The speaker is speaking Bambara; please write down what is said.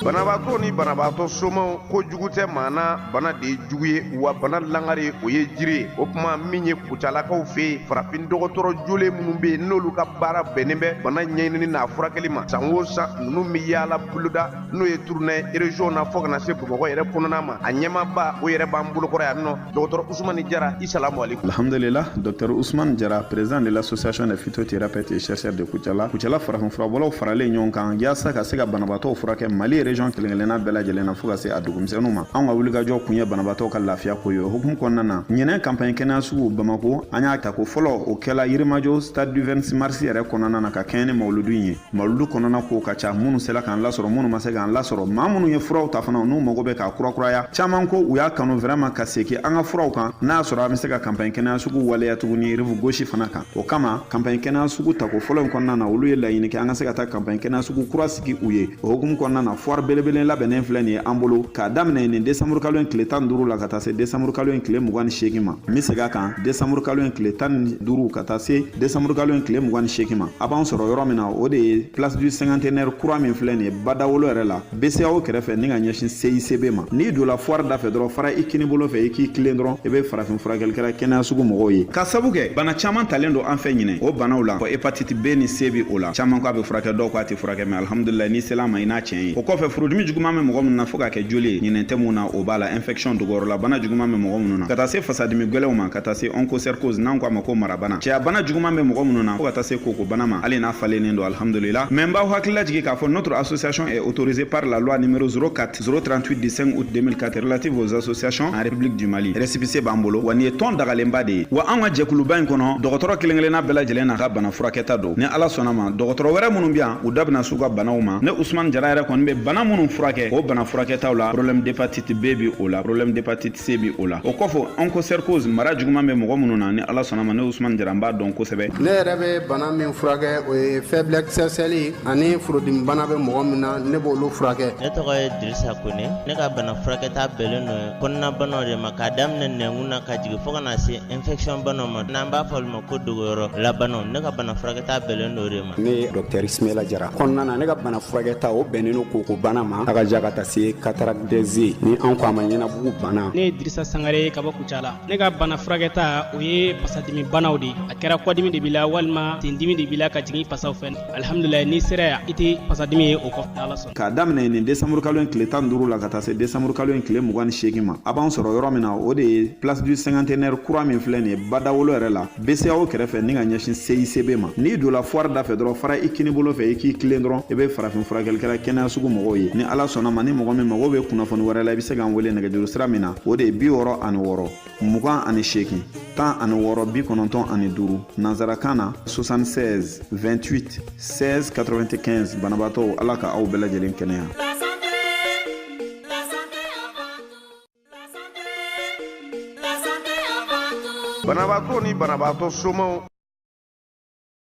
banabaatɔ ni banabaatɔ somaw ko jugu tɛ maa na bana de ye jugu ye wa bana langare o ye jiri ye o kuma min ye kucalakaw fɛ yen farafin dɔgɔtɔrɔ jolen minnu bɛ yen n'olu ka baara bɛnnen bɛ bana ɲɛɲinini n'a furakɛli ma san o san ninnu bɛ yaala boloda n'o ye tournée région na fɔ ka na se bamakɔ yɛrɛ kɔnɔna ma a ɲɛmaaba o yɛrɛ b'an bolokɔrɔ yan nɔ dɔgɔtɔrɔ usumani jara i salamu aleykum alhamdulila dɔktɛr usman jara président de l'association des phytothérapeutes et chercheurs de kucala kucala farafinfurabɔlaw faralen ɲɔgɔn kan yaasa ka se ka banabaatɔw furakɛ mali région kelenkelenna bɛɛ lajɛlen na fɔɔ ka se a dugumisɛnu ma an ka wulikajɔ kun ye banabaatɔw ka lafiya ko ye o hukumu kɔnɔna na ɲinɛ kanpaɲi kɛnɛya sugu bamako an y'a tako fɔlɔ o kɛla yirimajɔ stade du 26 mars yɛrɛ kɔnɔna na ka kɛɲɛ ni mawuludu ye mawuludu kɔnɔna kow ka ca minnu sela k'an lasɔrɔ minnu ma se k'an lasɔrɔ maa minnu ye furaw ta fana n'u mago bɛ k'a kurakuraya caman ko u y'a kanu vraiment ka seki an ka furaw kan n'a sɔrɔ an be se ka kanpaɲi kɛnɛya sugu waleya tuguni rive gauche fana kan o kama kanpaɲi kɛnɛya sugu tako fɔlɔ in kɔnɔna na olu ye laɲini kɛ an ka se ka taa kanpaɲi kɛnɛya sugu kura sigi u ye o hukumu kɔnɔna na fwari belebelen labɛnnen filɛ nin ye an bolo k'a daminɛ nin desanburu kalo in tile tan duru la ka taa se desanburu kalo in tile mugan ni seegin ma n be seg'a kan desanburu kalo in tile tan ni duru ka taa se desanburu kalo in tile mugan ni seegin ma a b'an sɔrɔ yɔrɔ min na o de ye place du cinquantenaire kura min filɛ nin ye badawolo yɛrɛ la bceao kɛrɛfɛ ni ka ɲɛsin cicb ma n'i donna fwari da fɛ dɔrɔn fara i kini bolo fɛ i k'i tilen dɔrɔn i be farafin furakɛlikɛla kɛnɛya sugu mɔgɔw ye k'a sabu kɛ bana caaman talen don an fɛ ɲinɛ o banaw la fɔ hepatiti b ni c be o la caaman ko a be furakɛ dɔw ko a tɛ furakɛ mɛ alhamdulilayi n'i sela ma i n'a tiɲɛ ye o kɔfɛ furudimi juguman be mɔgɔ minnu na fɔɔ ka kɛ joli ye ɲinɛ tɛmu na o b'a la infɛkisiyɔn dogoyɔrɔla bana juguman be mɔgɔ minnu na ka taa se fasadimi gwɛlɛw ma ka taa se ɔnkosɛrikoz n'an ko a ma ko mara bana cɛya bana juguman bɛ mɔgɔ minnu na fo ka taa se koko bana ma hali n'a falennen don alhamdulila mɛ n b'aw hakili lajigin k'a fɔ notre association est autorisée par la loi numéro 04 038 du 5 août 2004 relative aux associations en république du mali rɛsipise b'an bolo wa nin ye tɔn dagalenba de ye wa an ka jɛkuluba in kɔnɔ dɔgɔtɔrɔ kelen kelenna bɛɛ lajɛlen n'a ka bana furakɛta don ni ala sɔnna ma dɔgɔtɔrɔ wɛrɛ minnu bɛ yan u da bɛna s'u ka banaw ma ne usman jara yɛrɛ kɔni bɛ bana minnu furakɛ o bana furakɛtaw la problème d'hepatite b bi o la problème d'hepatite c bi o la o kɔfɛ onchocercose mara juguman bɛ mɔgɔ minnu na ni ala sɔnna ma ne usman jara n b'a dɔn kosɛbɛ ne yɛrɛ bɛ bana min furakɛ o ye faiblesse sexuelle ani furudimi bana bɛ mɔgɔ min na ne b'olu furakɛ ne tɔgɔ ye dirisa kone ne ka bana furakɛta bɛnnen don kɔnɔnabanaw de ma k'a daminɛ nɛnkun na ka jigin fɔɔ ka na se infection banaw ma n'an b'a fɔ olu ma ko dogoyɔrɔla banaw ne ka bana furakɛta bɛnnen don o de ma ne ye dɔktɛri simela jara kɔnɔna na ne ka bana furakɛta o bɛnnen don koko bana ma a kaja ka taa se cataracte des yeux ni an ko a ma ɲɛnabugu bana ne ye dirisa sangare ka bɔ kucala ne ka bana furakɛta o ye pasadimi banaw de a kɛra kɔdimi de b'i la walima tendimi de b'i la ka jigin pasaw fɛ alhamdulillah ni sera yan i tɛ pasadimi ye o kɔfɛ n'ala sɔnna k'a daminɛ nin desanburu kalo in tile tan duuru la ka taa se desanburu kalo in tile mugan ni seegin ma a b'an sɔrɔ yɔrɔ min na o de ye place du cinquantenaire kura min filɛ nin ye badawolo yɛrɛ la bceao kɛrɛfɛ ni ka ɲɛsin cicb ma n'i donna foire da fɛ dɔrɔn fara i kinin bolo fɛ i k'i tilen dɔrɔn i be farafin furakɛlikɛla kɛnɛya sugu mɔgɔw ye ni ala sɔnna ma ni mɔgɔ min mago be kunnafoni wɛrɛ la i be se k'an wele nɛgɛjuru sira min na o de ye bi wɔɔrɔ ani wɔɔrɔ mugan ani seegin tan ani wɔɔrɔ bi kɔnɔntɔn ani duuru nansarakan na 66 28 16 95 banabaatɔw ala ka aw bɛɛ lajɛlen kɛnɛya banabaatɔ ni banabaatɔ somaw